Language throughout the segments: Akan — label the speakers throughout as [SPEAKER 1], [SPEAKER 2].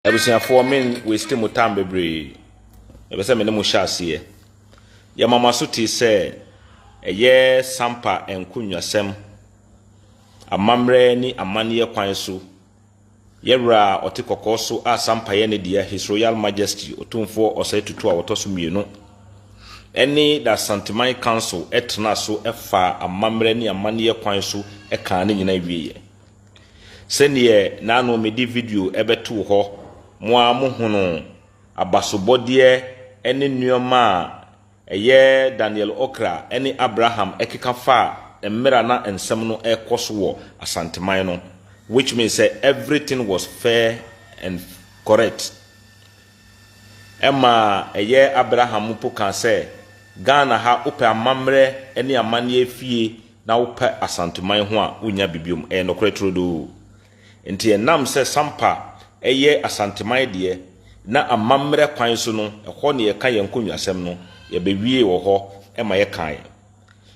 [SPEAKER 1] Abusuafoɔ me n waste mo time bebree. Mepɛ sɛ me ne mo hyɛ aseɛ. Yɛma mo aso tee sɛ ɛyɛ sampa nkonnwasɛm, amammerɛ ne amanneɛ kwan so. Yɛ Wura a ɔte kɔkɔɔ so a sampa yɛ ne dea, His Royal Majesty Otumfoɔ Osei Tutu a wɔtɔ so mmienu, ɛne The Asanteman Council tenaa so faa amammerɛ ne amanneɛ kwan so kaa ne nyinaa wieɛ. Sɛdeɛ na ano mede video bɛtoo hɔ, mo ara mohunuu abasobɔdeɛ ne nnoɔma a ɛyɛ Daniel Okra ne Abraham keka faa mmerɛ a na nsɛm no rekɔ so wɔ Asanteman no, which means sɛ everything was fair and correct. Ɛma ɛyɛ Abraham mpo kaa sɛ, Ghana ha wopɛ amammerɛ ne amanneɛ fie na wopɛ Asanteman ho a wonnya bi biom. Ɛyɛ nokorɛ turodoo. Nti ɛnam sɛ Sampa yɛ Asanteman deɛ na amammerɛ kwan so no ɛhɔ na yɛka yɛn nkonnwasɛm no, yɛbɛwiee wɔ hɔ ma yɛkaeɛ.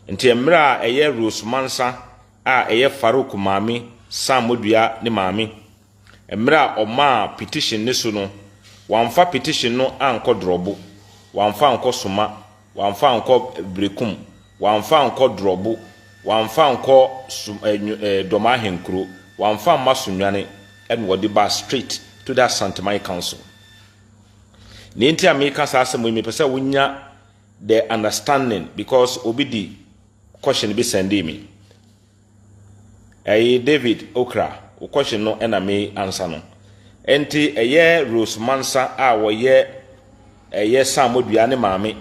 [SPEAKER 1] Nti mmerɛ a ɛyɛ Rose Mansa a ɛyɛ Farouk maame Sammodua ne maame Mmerɛ a ɔmaa petition no so no, wamfa petition no ankɔ Drɔbo, wamfa ankɔ Soma, wamfa ankɔ Berekum, wamfa ankɔ Drɔbo, wamfa ankɔ Som eh, Nyo- eh, Dɔma Ahenkuro, wamfa amma Sonwane, ɛna ɔde baa straight to the Asanteman Council. Nea enti a meka saa asɛm yi, mepɛ sɛ wonya the understanding because obi de question bi sendee me. Eyi David okra wokɔhye no na me ansa no. Ɛnti ɛyɛ Rose Mansa a wɔyɛ ɛyɛ Samodua ne maame.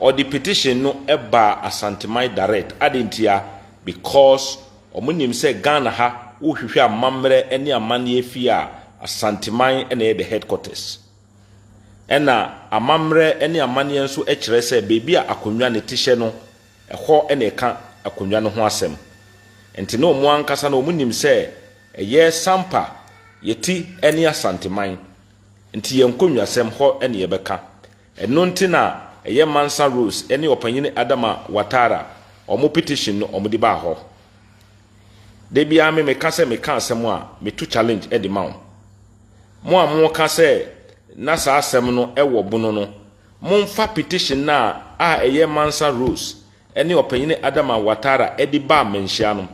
[SPEAKER 1] Ɔde petition no ba Asanteman direct. Ade ntia? Because wɔn nim sɛ Ghana ha wohwehwɛ amammerɛ ne amanneɛ fie a Asanteman na ɛyɛ the headquarters. Ɛna amammerɛ ne amanneɛ nso kyerɛ sɛ baabi a akonnwa ne tehyɛ no Ɛhɔ na ɛka akonnwa no ho asɛm. Ɛnte na wɔn ankasa no wɔn nim sɛ ɛyɛ Sampa, Yɛti ne Asanteman. Nti yɛn nkonnwasɛm hɔ na yɛbɛka. Ɛno nti na ɛyɛ Mansa Rose ne Ɔpanyin Adama Watara wɔn petition no wɔn de baa hɔ. Da biara me meka sɛ meka asɛm a me to challenge de ma wo. Mo a mo ka sɛ na saa asɛm no wɔ bono no, Momfa petition no a a ɛyɛ Mansa Rose ne Ɔpanyin Adama Ouattara de baa mmanhyia no,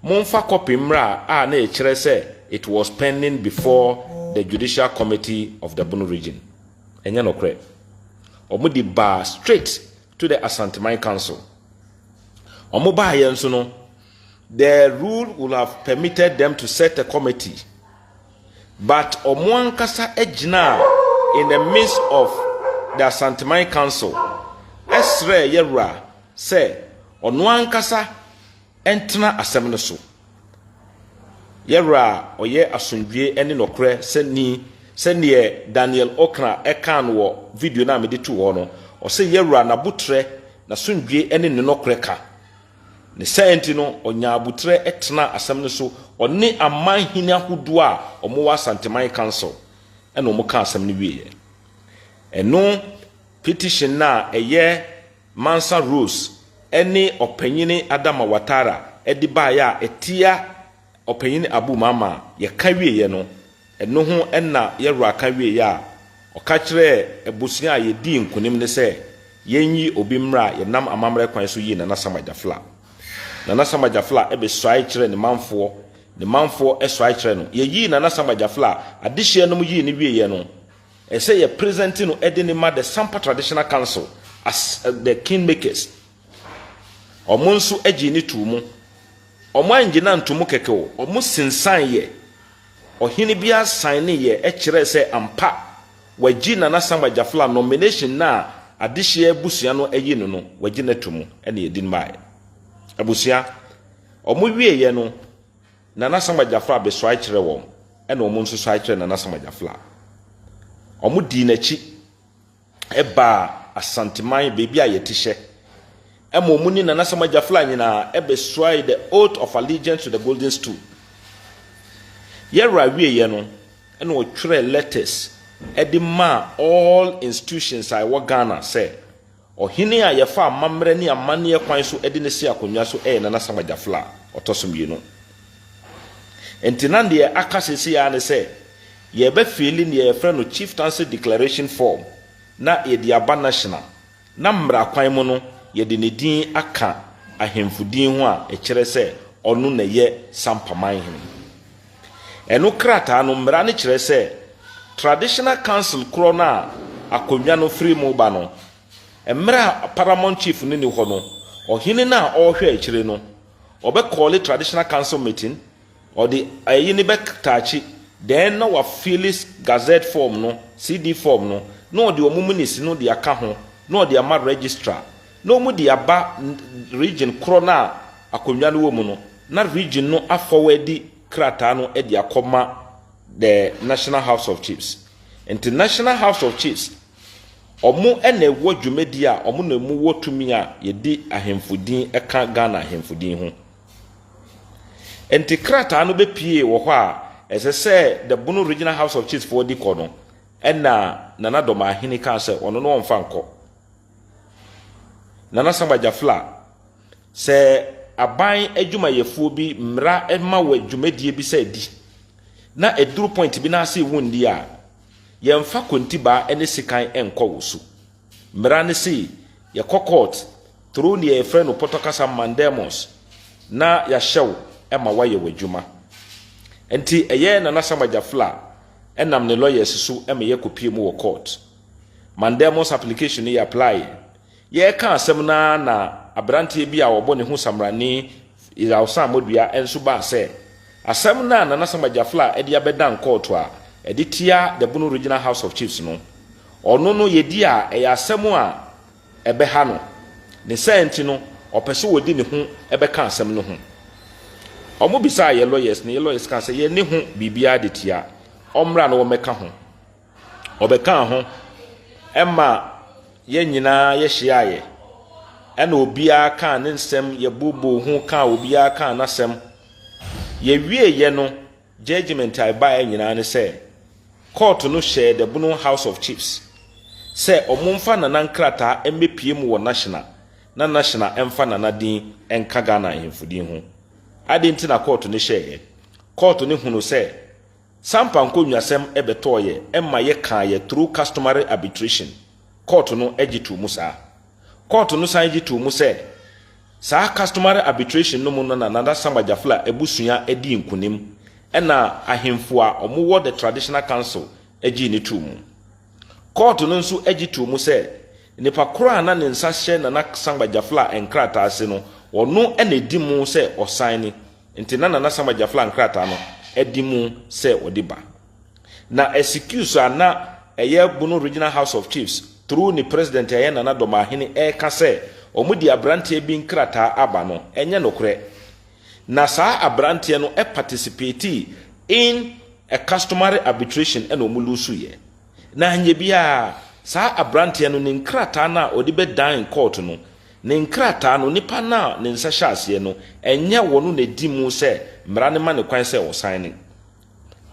[SPEAKER 1] momfa kɔpe mmra a na ɛkyerɛ sɛ it was pending before the Judicial Committee of the Bono Region. Ɛnyɛ nokorɛ. Wɔde baa straight to the Asanteman Council. Wɔbaeɛ nso no, the rule would have permitted them to set a committee. But ɔmo ankasa gyinaa in the midst of the Asanteman Council srɛɛ Yawura sɛ ɔno ankasa ntena asɛm no so. Yawura a ɔyɛ asomdwoeɛ ne nɔkorɛ sɛ ni sɛ neɛ Daniel Okra kaa no wɔ video no a mede too hɔ no, ɔse Yawura n'abotrɛ, n'asomdwoeɛ ne ne nɔkorɛ ka. Ne saa nti no, ɔnyaa aboterɛ tenaa asɛm no so, ɔne aman hene ahodoɔ a wɔwɔ Asanteman Council na wɔkaa asɛm no wieeɛ. Ɛno petition no a ɛyɛ Mansa Rose ne Ɔpanyini Adama Watara de baeɛ a ɛtia Ɔpanyin Abu Mama yɛka wieɛ no, ɛno ho na yɛwura ka wieɛ a, ɔka kyerɛɛ abusua a yɛdii nkunim no sɛ yɛnyi obi mmra a yɛnam amammerɛ kwan so yii Nana Sama Jafla. Nana Sama Jafla bɛsuae kyerɛɛ ne manfoɔ, ne manfoɔ suae kyerɛɛ no. Yɛyii Nana Sama Jafla, adehyeɛ nom yii no wieɛ no, ɛsɛ yɛ present no de no ma the Sampa Traditional Council as the Kingmakers. Wɔn nso gyee no too mu. Wɔannye no anto mu kɛkɛ o, wɔsensaneeɛ. Ɔhene bi ara saeneeɛ kyerɛɛ sɛ ampa wɔagye Nana Sam Agyafla nomination no a adehyeɛ abusua no ayi no no, wɔagye no ato mu na yɛde no baeɛ. Abusua, wɔwieeɛ no, Nana Sam Agyafla bɛsɔre kyerɛɛ wɔn, ɛna wɔn nso sɔre kyerɛɛ Nana Sam Agyafla. Wɔdii n'akyi. baa Asanteman baabi a yɛte hyɛ, ɛma ɔmo ne Nana Samoa Gyafla nyinaa ɛbɛsuae the oath of allegiance to the Golden Stool. Yɛwera wieɛ no, ɛna ɔtwerɛɛ letters ɛde maa all institutions a ɛwɔ Ghana sɛ, Ɔhene a yɛfa amammerɛ ne amanneɛ kwan so de no si akonnwa so yɛ Nana Samoa Gyafla, ɔtɔ so mmienu. Nti na deɛ aka seesei ara ne sɛ, Yɛbɛ fili neɛ yɛfrɛ no Chieftaincy Declaration Form na yɛde aba National na mmra kwan mu no yɛde ne din aka ahemfo din ho a ɛkyerɛ sɛ ɔno na ɛyɛ Sampa Manhene. Ɛno krataa no mmra no kyerɛ sɛ Traditional Council korɔ no a akonnwa no firi mu ba no, mmra a Paramount Chief no nni hɔ no, ɔhene no a ɔrehwɛ akyire no ɔbɛ kɔɔle Traditional Council Meeting Ɔde ayi no bɛtaakye dɛn na wafills Gazette form no, CD form no, na ɔde wɔn minutes no de aka ho na ɔde ama Registrar na wɔn de aba region korɔ no a akonnwa no wɔ mu no na region no afɔwɛdi krataa no de akɔma the National House of Chiefs. Nti National House of Chiefs wɔn na ɛwɔ dwumadie a wɔn na wɔwɔ tumi a yɛde ahemfo din ka Ghana ahemfo din ho. Enti krataa no bɛpuee wɔ hɔ a ɛsɛ sɛ the Bono Regional House of Chiefs foɔ de kɔ no, ɛna Nana Dɔmahene kaa sɛ ɔno no ɔmfa nkɔ. Nana Samba Jafla, sɛ aban adwumayɛfoɔ bi mmra ma wɔ dwumadie bi sɛ di, na ɛduru point bi na ase wo nni a, yɛmfa kontibaa ne sekan nkɔ wo so. Mmara no se yɛkɔ kɔɔt, toro nea yɛfrɛ no pɔtɔ kasa mandamus, na yɛahyɛ wo ma woayɛ w'adwuma. Enti ɛyɛɛ Nana Sam Agyafla nam ne lɔyɛs so ma yɛkɔpue mu wɔ kɔɔt. Mandamus application no yɛaplaeɛ. Yɛreka asɛm no ara na aberanteɛ bi a wɔbɔ ne ho Samrani Yawsan Modua nso baa sɛ asɛm no a Nana Sam Agyafla de abɛdan kɔɔt a ɛde tia the Bono Regional House of Chiefs no, Ɔno no, yɛdi a, ɛyɛ asɛm a ɛbɛha no. Ne saa nti no, ɔpɛ sɛ ɔde ne ho bɛka asɛm no ho. Wɔbisaa yɛn lawyers, na yɛn lawyers kaa sɛ yɛne ho biribiara de tia, ɔmmra na wɔmmɛka ho. Ɔbɛkaa ho ma yɛn nyinaa yɛhyiaeɛ, ɛna obiara kaa ne nsɛm, yɛbooboo ho kaa obiara kaa n'asɛm. Yɛwieeɛ no, Judgement a ɛbaeɛ nyinaa ne sɛ kɔɔto no hyɛɛ The Bono House of Chiefs sɛ wɔmfa Nana nkrataa mmɛpue mu wɔ Nashina na Nashina mfa Nana din nka Ghana Ahemfo din ho. Adɛn nti na kɔɔto no hyɛeɛ? Kɔɔto no hunuu sɛ Sampa nkɔnwuasɛm bɛtɔɔeɛ ma yɛkaa yɛ through customary arbitration. Kɔɔto no gye too mu saa. Kɔɔto no san gye too mu sɛ, saa customary arbitration no mu no na Nana Sam Agyafla abusua dii nkonim na ahemfo a wɔwɔ the Traditional Council gyee no too mu. Kɔɔto no nso gye too mu sɛ, nipa koro a na ne nsa hyɛ Nana Sam Agyafla nkrataa ase no, ɔno na ɛdi mu sɛ ɔsan ne nti na Nana Sam Agyafla nkrataa no di mu sɛ wɔde ba. Na ɛsikiuso a na ɛyɛ Bono Regional House of Chiefs through ne president a ɛyɛ Nana Domahene ɛreka sɛ wɔn de abranteɛ bi nkrataa aba no ɛnyɛ nokorɛ. Na saa abranteɛ no participatii in a customary arbitration ɛna wɔn luusuiɛ. Na anyɛ biara saa abranteɛ no ne nkrataa no a ɔde bɛ dine court no ne nkrataa no nipa no a ne nsa hyɛ aseɛ no ɛnyɛ wɔn na ɛdi mu sɛ mmara no ma no kwan sɛ ɔsign.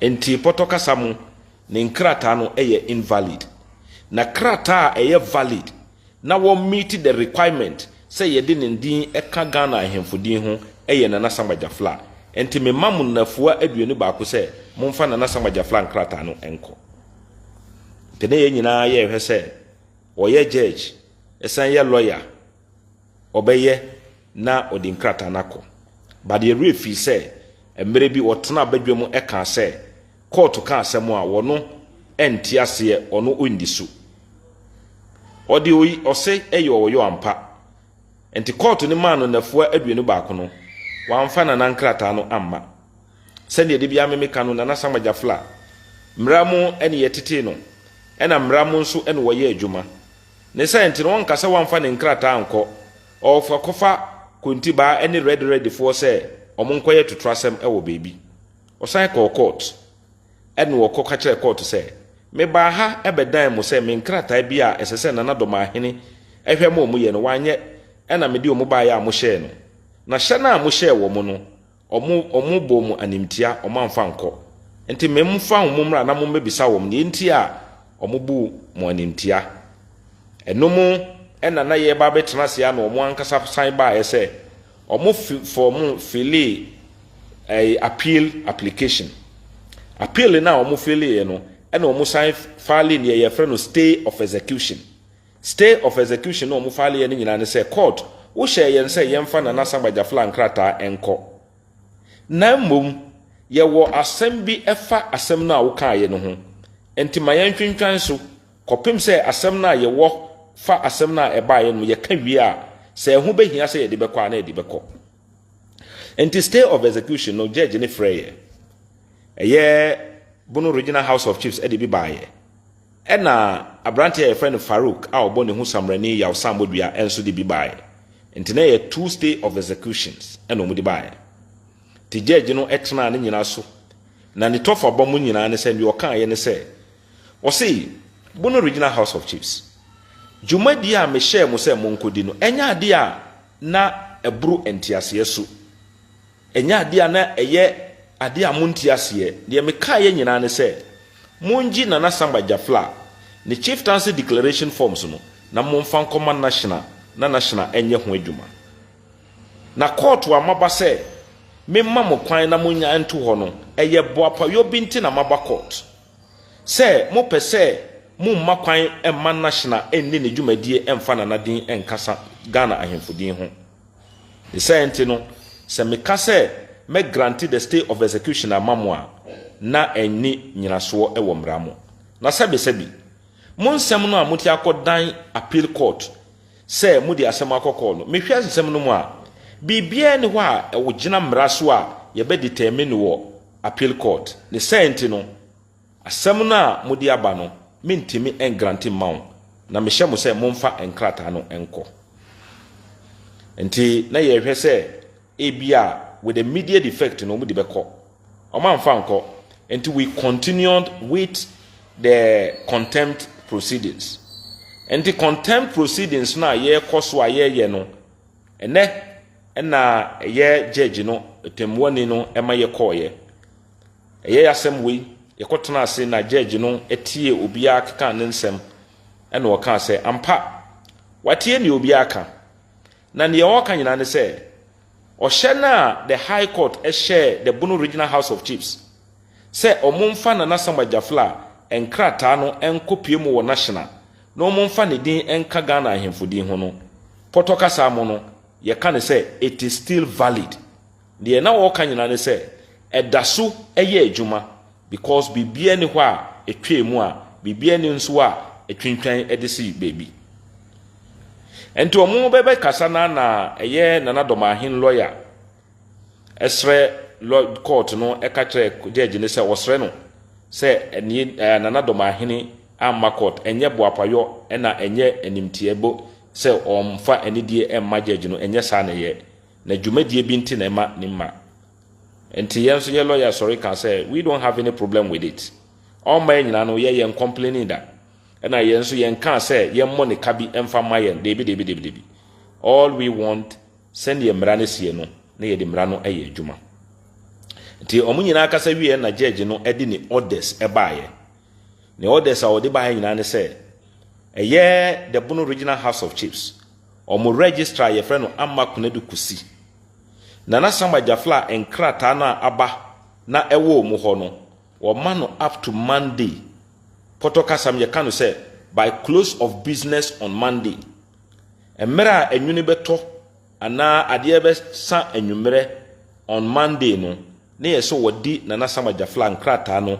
[SPEAKER 1] Enti pɔtɔ kasa mu, ne nkrataa no yɛ invalid. Na krataa a ɛyɛ valid na wɔ meet the requirement sɛ yɛde ne din ka Ghana ahemfo din ho yɛ Nana Asamoah Gyafla. Enti mema mo nnafua aduonu baako sɛ momfa Nana Asamoah Gyafla nkrataa no nkɔ. Enti na yɛn nyinaa yɛrehwɛ sɛ ɔyɛ judge, ɛsan yɛ lawyer. ɔbɛyɛ na ɔde nkrataa no akɔ. But yɛn werɛ fii sɛ mmerɛ bi ɔtenaa badwam kaa sɛ kɔɔto ka asɛm a wɔno nte aseɛ ɔno ɔnni so. Ɔde ɔyi ɔse ɛyɛ ɔyɔ ampa. Nti kɔɔto no maa no nnafua aduonu baako no wamfa Nana nkrataa no amma. Sɛdeɛ da biara me meka no Nana Samuel Gyafla mmara mu ɛne yɛtetee no ɛna mmara mu nso ɛna ɔyɛ adwuma. Ne sɛ nti no wɔnka sɛ wɔamfa ne nkrataa ankɔ ɔɔfo akɔfa Kontibaa ne Rɛde Rɛdefoɔ sɛ wɔn nkɔyɛ totorasɛm wɔ baabi. Ɔsan kɔɔ kɔɔt. Ɛnna ɔkɔ ka kyerɛɛ kɔɔt sɛ, Mebaa ha bɛdan mo sɛ me nkrataa bi a ɛsɛ sɛ Nana Domahene hwɛ ma wɔn yɛ no wɔanyɛ ɛnna mede wɔn baeɛ a mohyɛɛ no. Na hyɛ no a mohyɛɛ wɔn no, Wɔn, wɔn bɔɔ mo animtia, wɔn amfa ankɔ. Nti me mfa wɔn mmra na mo mmɛbisa wɔn deɛ nti a wɔn buu mo animtia. Ɛno mu na na yɛreba abɛtena ase ara na wɔn ankasa san baeɛ sɛ, wɔn fi, fɔ, wɔn filee ɛɛ appeal application. Appeal no a wɔn fileeɛ no, ɛna wɔn san faalee deɛ yɛfrɛ no stay of execution. Stay of execution no a ɔmo file yɛ no nyinaa ne sɛ court wo hyɛɛ yɛn sɛ yɛnfa Nana Samba Jafla nkrataa nkɔ. Na mmom yɛ wɔ asɛm bi ɛfa asɛm no a wo kaa yɛ no ho. Nti ma yɛn twentwan so kɔpem sɛ asɛm no a yɛ wɔ fa asɛm no a ɛbaa yɛ no yɛ ka wie a sɛ ɛho bɛ hia sɛ yɛ de bɛ kɔ a na yɛ de bɛ kɔ. Nti stay of execution no judge no frɛ yɛ ɛyɛ Bono Regional House of Chiefs ɛde bi baa yɛ. Ɛnna aberante a wɔfrɛ no Farouk a ɔbɔ ne ho sammarani yawsammɔ dua nso de bi baeɛ. Enti na ɛyɛ two stay of executions na wɔde baeɛ. Te gyɛɛgye no tenaa ne nyinaa so, na ne tɔfabɔ mu nyinaa ne sɛ deɛ ɔkaeɛ ne sɛ, Ɔse, Bono Regional House of Chiefs, dwumadie a mehyɛɛ mo sɛ monkɔdi no, ɛnyɛ adeɛ a na ɛboro nteaseɛ su. Ɛnyɛ adeɛ a na ɛyɛ adeɛ a monte aseɛ. Deɛ mekaeɛ nyinaa ne sɛ, mongye Nana Samba Jafla ne Chieftaincy Declaration Forms no na momfa nkɔma Nashina na Nashina nyɛ ho adwuma. Na kɔɔto a maba sɛ memma mo kwan na monnya nto hɔ no, ɛyɛ boapayɔ bi nti na maba kɔɔto. Sɛ mopɛ sɛ momma kwan mma Nashina nni ne dwumadie mfa Nana din nkasa Ghana Ahemfo din ho. Ne saa nti no, sɛ meka sɛ mɛ grante the stay of execution ama mo a, na ɛnni nyinasoɔ wɔ mmara mu. Na sɛbesɛbe, mo nsɛm no a mote akɔ dan appeal court sɛ mode asɛm akɔ kɔɔ no, mehwɛ nsɛm no mu a, biribiara nni hɔ a ɛwogyina mmara so a yɛbɛ determine wɔ appeal court. Ne saa nti no. Asɛm no a mode aba no, mentumi ngrante mma wo, na mehyɛ mo sɛ momfa nkrataa no nkɔ. Nti na yɛrehwɛ sɛ ebia with the immediate effect no wɔde bɛkɔ. Wɔamfa ankɔ, nti we continued with the contempt proceedings. Nti contempt proceedings no a yɛrekɔ so a yɛreyɛ no, ɛnɛ na ɛyɛ judge no, tɛmmuani no ma yɛkɔɔeɛ. Ɛyɛɛ asɛm wei, yɛkɔtenaa ase na gyɛɛgye no tiee obiara kekaa ne nsɛm, ɛnna ɔkaa sɛ, Ampa, watie deɛ obiara reka, na deɛ ɔreka nyinaa ne sɛ, ɔhyɛ no a the High Court hyɛɛ the Bono Regional House of Chiefs sɛ wɔmfa Nana Asamoah Gyaflaa nkrataa no nkɔpue mu wɔ National na wɔmfa ne din nka Ghana Ahemfo din ho no, pɔtɔ kasa mu no, yɛka no sɛ, It is still valid. Deɛ na wɔreka nyinaa ne sɛ ɛda so yɛ adwuma because biribiara nni hɔ a ɛtwaa mu a biribiara nni nso hɔ a ɛtwintwan de si baabi. Nti wɔn bɛbɛkasa na na ɛyɛ Nana Dɔmahen lɔya srɛ lɔ court no ka kyerɛ judge no sɛ ɔsrɛ no sɛ ɛnie ɛɛ Nana Dɔmahene amma court ɛnyɛ boapayɔ ɛna ɛnyɛ animteɛ bo sɛ ɔmfa anidie ɛmma judge no ɛnyɛ saa na ɛyɛ. Na dwumadie bi nti na ɛma ne mma. Nti yɛn nso yɛ lawyer sɔre ka sɛ we don't have any problem with it. Ɔmma yɛn nyinaa no yɛ yɛn complaining da. Ɛna yɛn nso yɛn kaa sɛ yɛn mmɔ ne ka bi mfa mma yɛn deebi deebi deebi deebi. All we want sɛdeɛ mmara no sie no na yɛde mmara no yɛ adwuma. Nti wɔn nyinaa kasa wieɛ na judge no de ne orders baeɛ. Ne orders a ɔde baeɛ nyinaa ne sɛ ɛyɛ the Bono Regional House of Chiefs Wɔn registrar a yɛfrɛ no Amma Konadu Kosi. Nana Sam Agyafla nkrataa no a aba na ɛwɔ wɔn hɔ no, wɔma no up to Monday. Pɔtɔ kasam yɛka no sɛ by close of business on Monday. Mmerɛ a anwunu bɛtɔ anaa adeɛ bɛsa anwummerɛ on Monday no, Ne yɛ sɛ wɔde Nana Sam Agyafla nkrataa no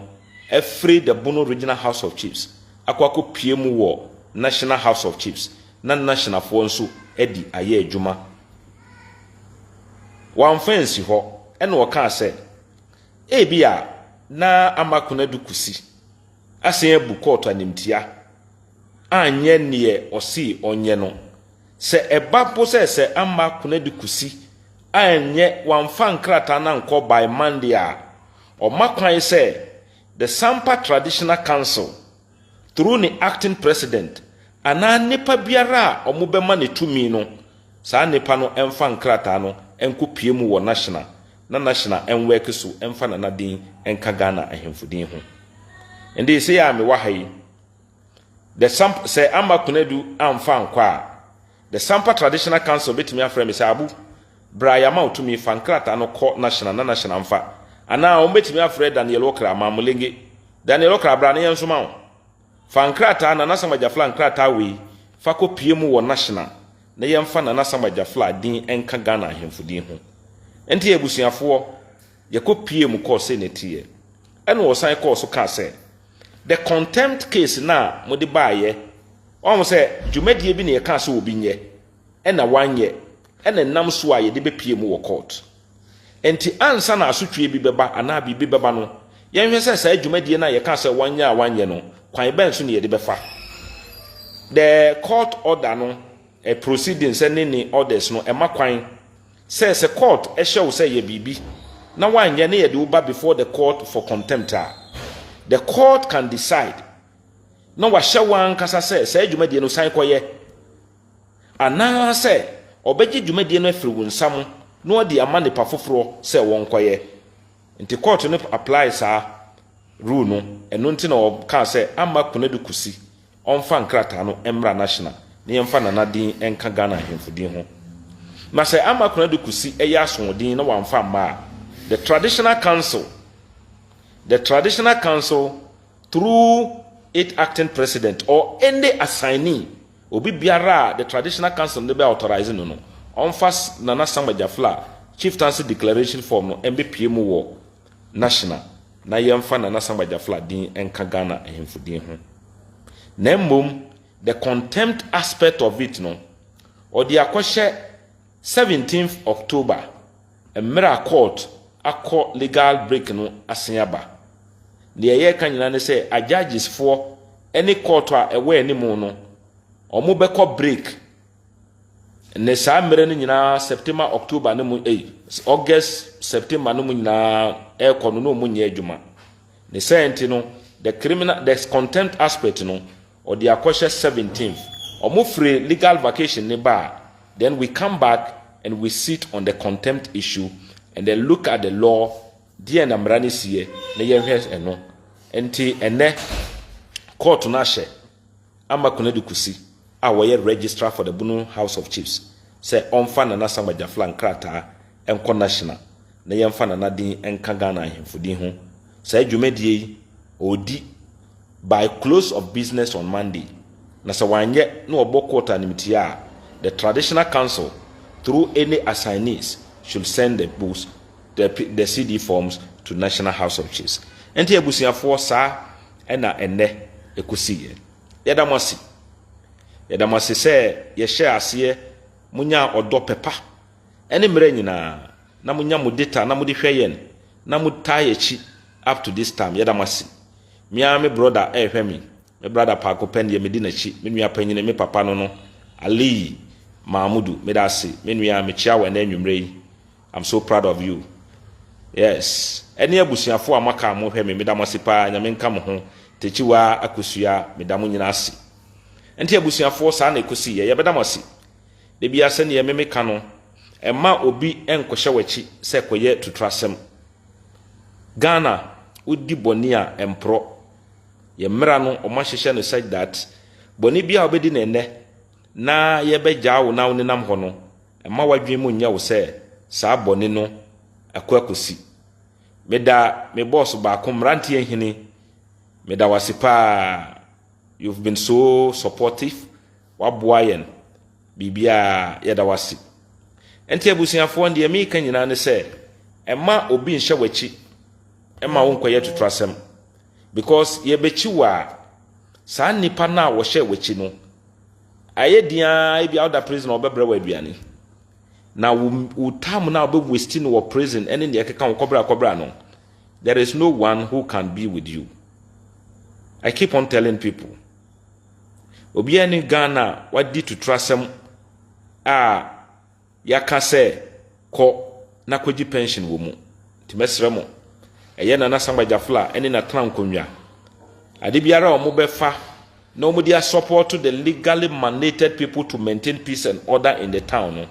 [SPEAKER 1] afiri the Bono Regional House of Chiefs akɔ akɔpue mu wɔ National House of Chiefs na Nashinafoɔ nso adi ayɛ adwuma. Wamfa ansi hɔ na ɔkaa sɛ ebia na ama Konadu Kosi asan abu kɔɔto animtia anyɛ neɛ ɔsee ɔnyɛ no. Sɛ ɛba mpo sɛ sɛ amma Kuna de kusi a ɛnyɛ wɔamfa nkrataa no ankɔ by Monday a, ɔma kwan sɛ The Sampa Traditional Council through ne Acting President anaa nnipa biara a wɔbɛma no tumi no, saa nnipa no mfa nkrataa no nkɔpue mu wɔ National na National nwɛke so mfa Nana din nka Ghana Ahemfo din ho. Ɛnde, sei a mewɔ ha yi, The Samp Sɛ amma Konadu amfa ankɔ a, The Sampa Traditional Council betumi afrɛ me sɛ, Abu, bra, yɛama wo tumi, fa nkrataa no kɔ Nashina na Nashina mfa. Anaa wɔbetumi afrɛ Daniel Okra, Mamulenge, Daniel Okra, bra na yɛnsoma wo. Fa nkrataa, Nana Samuel Jafla nkrataa wei, fa kɔpue mu wɔ Nashina na yɛmfa Nana Samuel Jafla din nka Ghana ahemfo din ho. Enti yɛn abusuafoɔ, yɛkɔpuee mu kɔɔ Senetiɛ. Ɛnna wɔsan kɔɔ so kaa sɛ, The contempt case no a mode baeɛ, wahu sɛ dwumadie bi na yɛkaa sɛ obi nyɛ, ɛna wanyɛ, ɛna ɛnam so a yɛde bɛpie mu wɔ court. Ɛnti ansa na asotweɛ bi bɛba anaa biribi bɛba no, yɛnhwɛ sɛ saa dwumadie no a yɛkaa sɛ wanyɛ a wanyɛ no, kwan bɛn so na yɛde bɛfa. The court order no, eh, proceedings ne ne orders no, ɛma kwan Sɛ sɛ court hyɛ wo sɛ yɛ biribi na woanyɛ na yɛde wo ba before the court for contempt a, the court can decide na wahyɛ wo ankasa sɛ saa dwumadie no san kɔyɛ anaasɛ ɔbɛgye dwumadie no afiri wo nsa mo na wadi ama nipa foforɔ sɛ wɔnkɔyɛ. Nti court no apply saa rule no ɛno nti na ɔkaa sɛ amma Konadu Kosi ɔmfa nkrataa no mmra National na yɛmfa Nana din nka Ghana Ahemfo din ho. Na sɛ ama Kwena Dukusi yɛ asoɔden na wamfa amma a, the Traditional Council, the Traditional Council through it Acting President or any assignee, obi biara a the Traditional Council no bɛ authorize no no, ɔmfa Nana Sam Agyafla Chieftaincy Declaration Form no mbɛpue mu wɔ National na yɛmfa Nana Asam Bajafla din nka Ghana ahemfo din ho. Na mmom the contempt aspect of it no, ɔde akɔhyɛ seventeenth October mmerɛ a court akɔ legal break no asen aba. Deɛ yɛreka nyinaa ne sɛ ajudges foɔ ne court a ɛwɔ anim no, wɔbɛkɔ break. Ne saa mmerɛ no nyinaa September October no mu ei August September no mu nyinaa ɛrekɔ no na wɔn nyɛ adwuma ne sɛ nti no the criminal the contempt aspect no ɔde akɔhyɛ 17th wɔn firi legal vacation ne ba a then we come back and we sit on the contempt issue and then look at the law deɛ na mmara no siɛ na yɛhwɛ ɛno nti ɛnɛ court no ahyɛ. ama Konadu Kosi a ɔyɛ Registrar for the Bono House of Chiefs sɛ ɔmfa Nana Asamoah Gyafla nkrataa nkɔ National na yɛmfa Nana din nka Ghana Ahemfo din ho. Saa dwumadie yi, ɔredi by close of business on Monday, na sɛ wanyɛ na wɔbɔ court animtia a, the Traditional Council through any assignees should send the books, the, the CD forms to National House of Chiefs. Ɛnti abusuafoɔ, saa. ɛna ɛnnɛ ɛkɔsi yɛ. Yɛda mo ase. Yɛda mo ase sɛ yɛhyɛɛ aseɛ monyaa ɔdɔ pɛpa ɛne mmerɛ nyinaa na monya mo data na mode hwɛ yɛn na mo taa yɛ akyi up to this time yɛda mo ase. Me ara me brɔda ɛrehwɛ me, me brada paako pɛ deɛ medi n'akyi, me nua panyini, me papa no no, Alii Maamudu, meda ase, me nua, mekyea wo ɛnɛ anwummerɛ yi, I'm so proud of you yes ɛne abusuafoɔ a mo aka a mo hwɛ me meda mo ase paa nyame nka mo ho Takyiwa Akosua meda mo nyina ase nti abusuafoɔ saa na ɛkosi yɛ yɛbɛda mo ase dabia sɛdeɛ me me ka no ɛma obi nkɔhyɛ wakyi sɛ kɔyɛ tuturasɛm Ghana wodi bɔne a ɛmporɔ yɛ mmera no wɔn ahyehyɛ no such that bɔne bi a wobɛdi no ɛnɛ na yɛbɛgyaa wo na wo nenam hɔ no Mma w'adwene mu nyɛ wo sɛ saa bɔne no ako akosi. Meda me bɔɔso baako, Mmeranteɛ Hene, meda wo ase paa. You've been so supportive, woaboa yɛn biribiara, yɛda wo ase. Ɛnti abusuafoɔ, deɛ mereka nyinaa ne sɛ, mma obi nhyɛ w'akyi mma wonkɔyɛ totorasɛm. Because yɛbɛkyi wo a, saa nnipa no a wɔhyɛɛ w'akyi no, Ayɛ den ara ebia woda prison a wɔbɛbrɛ wo aduane. Na wo wo time na wɔbɛ waste no wɔ prison ɛne nea ɛkeka wo kɔbra kɔbra no. There is no one who can be with you. I keep on telling people. Obiara ne Ghana wadi tuturasɛm a Yɛaka sɛ kɔ na kɔgye pɛnhyen wɔ mu. Nti mɛsrɛ mo, ɛyɛ Nana Sangba Gyafl a ɛne Natena Nkonnwa. Ade biara a wɔn bɛfa na wɔn de asɔpɔɔto the legally mandated people to maintain peace and order in the town no,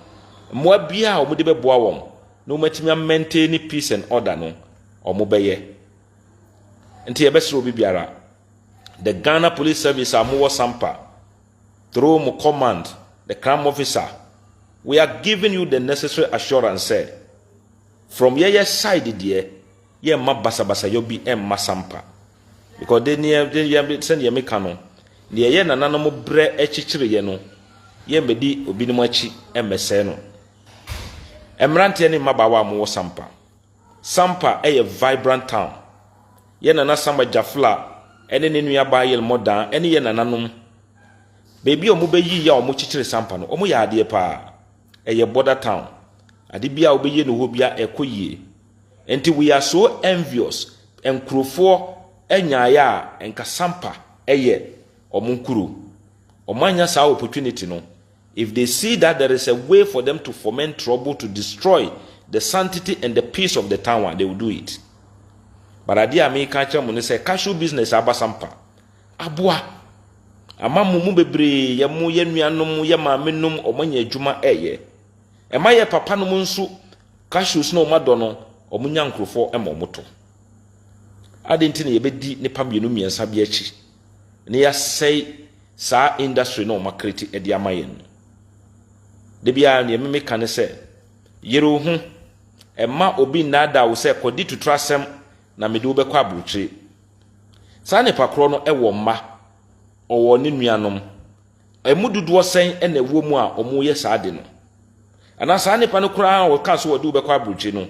[SPEAKER 1] mmoa biara a wɔn de bɛboa wɔn na wɔn atumi a maintaini peace and order no, wɔn bɛyɛ. Nti yɛbɛsrɛ obi biara, the Ghana Police Service a mowɔ Sampa, Through mo command, the Cram Officer, we are giving you the necessary assurance sɛ, from yɛyɛ side deɛ, yɛmma basabasayɔ bi mma sampa. Because de neɛ, de yɛ, sɛdeɛ meka no, deɛ yɛ nananom brɛ kyekyereeɛ no, yɛmmɛdi obinom akyi mmɛsɛe no. Mmeranteɛ ne mmabaawa a mowɔ sampa, Sampa yɛ vibrant town. Yɛn nana Samba Jafla ne ne nua baa Yelmɔ Dan ne yɛn nananom. Baabi a wɔbɛyii a wɔkyekyere Sampa no, wɔyɛ adeɛ paa. Ɛyɛ border town. Ade biara a wobɛyie no hɔ biara ɛkɔ yie. Nti we are so envious nkurofoɔ nyaeɛ a nka Sampa yɛ wɔn nkuro. Wɔannya saa opportunity no. If they see that there is a way for them to foment trouble to destroy the sanctity and the peace of the town a, they will do it. But adeɛ a meka akyerɛ mo ne sɛ cashew business abasa mpa. Aboa. Ama mo mu bebree yɛ mo yɛ nuanom, yɛ maame nom, wɔanya adwuma ɛyɛ. Ɛma yɛ papa nom nso cashews na wɔn adɔ no, wɔn nya nkurofɔ ma wɔn to. Adɛn nti na yɛbɛdi nnipa mmienu mmiɛnsa bi akyi? na yɛasɛe saa industry no a wɔn akreti ɛde ama yɛn no. Da biara nea ɛmeme ka ne sɛ, yere wo ho, ɛma obi nnaadaa wo sɛ kɔdi tutrasɛm na mede wobɛkɔ aburokyire. Saa nipa korɔ no ɛwɔ mma, ɔwɔ ne nuanom, Emu dodoɔ sɛn na ɛwɔ mu a wɔyɛ saa ade no? Anaa saa nnipa no koraa a wɔkaa sɛ wɔde wo bɛkɔ aburokyire no,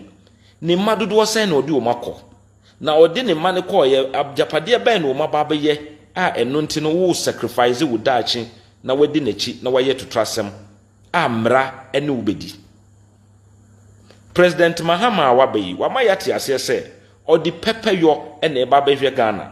[SPEAKER 1] ne mma dodoɔ sɛn na ɔde wɔn akɔ? Na ɔde ne mma no kɔeɛ, agyapadeɛ bɛn na wɔn aba abɛyɛ a ɛno nti no wo sacrifice wo daakye na woadi n'akyi na woayɛ totorasɛm a mmara ne wo bɛdi? President Mahama a waba yi, wama yɛate aseɛ sɛ ɔde pɛpɛyɔ na ɛreba abɛhwɛ Ghana.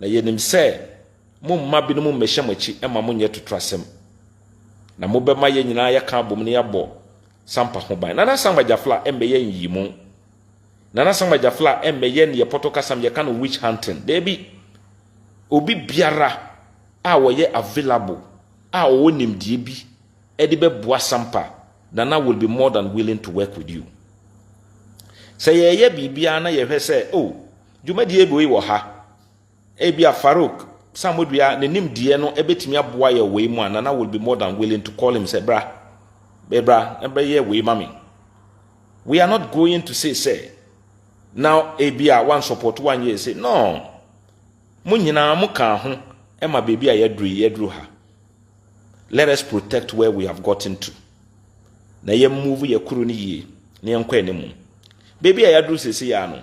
[SPEAKER 1] Na yɛnim sɛ moremma binom mmɛhyɛ mo akyi mma monyɛ totorasɛm. Na mobɛma yɛn nyinaa yɛaka abom na yɛabɔ Sampa ho ban. Nana Sam Agyafla mmɛyɛ nyiyimu. Nana Sam Agyafla mmɛyɛ neɛ pɔtɔ kasam yɛka no witch hunting. Daabi. Obi biara a ɔyɛ available a ɔwɔ nimdeɛ bi de bɛboa Sampa, Nana will be more than willing to work with you. Sɛ yɛreyɛ biribiara na yɛhwɛ sɛ oh, Dwumadie wei wɔ ha. Ebia Farouk Samodua ne nimdeɛ no bɛtumi aboa yɛ wei mu a, Nana will be more than willing to call him sɛ bra, bra na bɛyɛ wei ma me. We are not going to say sɛ na ebia wansɔpɔto wanyɛ ɛse. No! Mo nyinaa mo kaa ho ma baabi a yɛaduru yi, yɛaduru ha. Let us protect where we have gotten to. Na yɛn move yɛ koro no yie na yɛnkɔ anim. Baabi a yɛaduru sese yi ara no,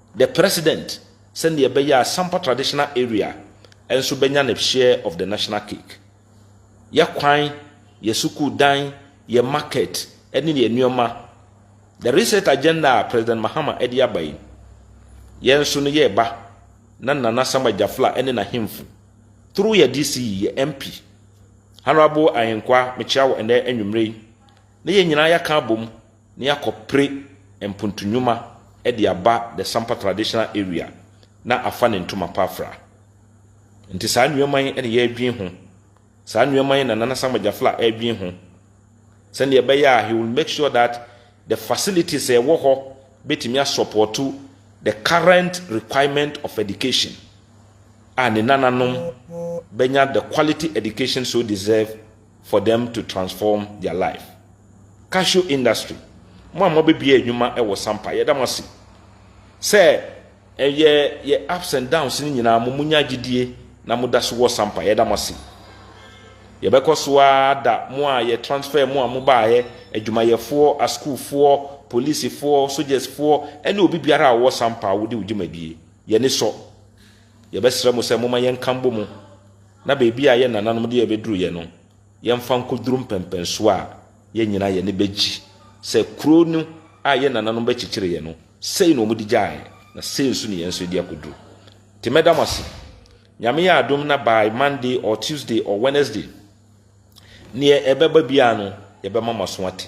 [SPEAKER 1] The President, sɛdeɛ ɛbɛyɛ a Sampa Traditional Area nso bɛnya ne share of the national cake. Yɛ kwan, yɛ sukuu dan, yɛ market ne yɛ nneɛma. The Reset Agenda a President Mahama de aba yi, yɛn nso no yɛreba na Nana Sam Agyafla ne n'ahemfo, through yɛ DC, yɛ MP, Honourable Ahenkwaa, mekyea wo ɛnnɛ anwumerɛ yi, na yɛn nyinaa yɛaka abom na yɛakɔpere mpontu nnwuma de aba the Sampa traditional area na afa ne ntoma pa afra. Nti saa nnoɔma yi na yɛredwen ho, saa nnoɔma yi na Nana Samuel Gyafla redwen ho sɛdeɛ ɛbɛyɛ a he will make sure that the facilities a ɛwɔ hɔ bɛtumi asɔpɔto the current requirement of education a ne nananom bɛnya the quality education so deserve for them to transform their life cashew industry mo a moabɛbia adwuma wɔ sampa yɛda mo ase sɛ ɛyɛ yɛ ups and downs no nyinaa mo monya gyedie na moda so wɔ sampa yɛda mo ase yɛbɛkɔ so ara da mo a yɛ transfer mo a mobaeɛ adwumayɛfoɔ asukuufoɔ polisifoɔ sogyasfoɔ ɛne obi biara a ɔwɔ sampa a wode wo dwumadie yɛne sɔ yɛbɛsrɛ mo sɛ moma yɛnka mbɔ mu na baabi a yɛn nananom de yɛn bɛduruiɛ no, yɛmfa nkɔduru mpɛnpɛnsoɔ a yɛn nyinaa yɛn ani bɛgye sɛ kuro no a yɛn nananom bɛkyekyereeɛ no, sei na wɔde gyaeɛ, na sei nso na yɛn nso yɛde akɔduru. Nti mɛda mo ase. Nyame yɛ adom na by Monday or Tuesday or Wednesday, neɛ ɛbɛba biara no, yɛbɛma mo aso ate.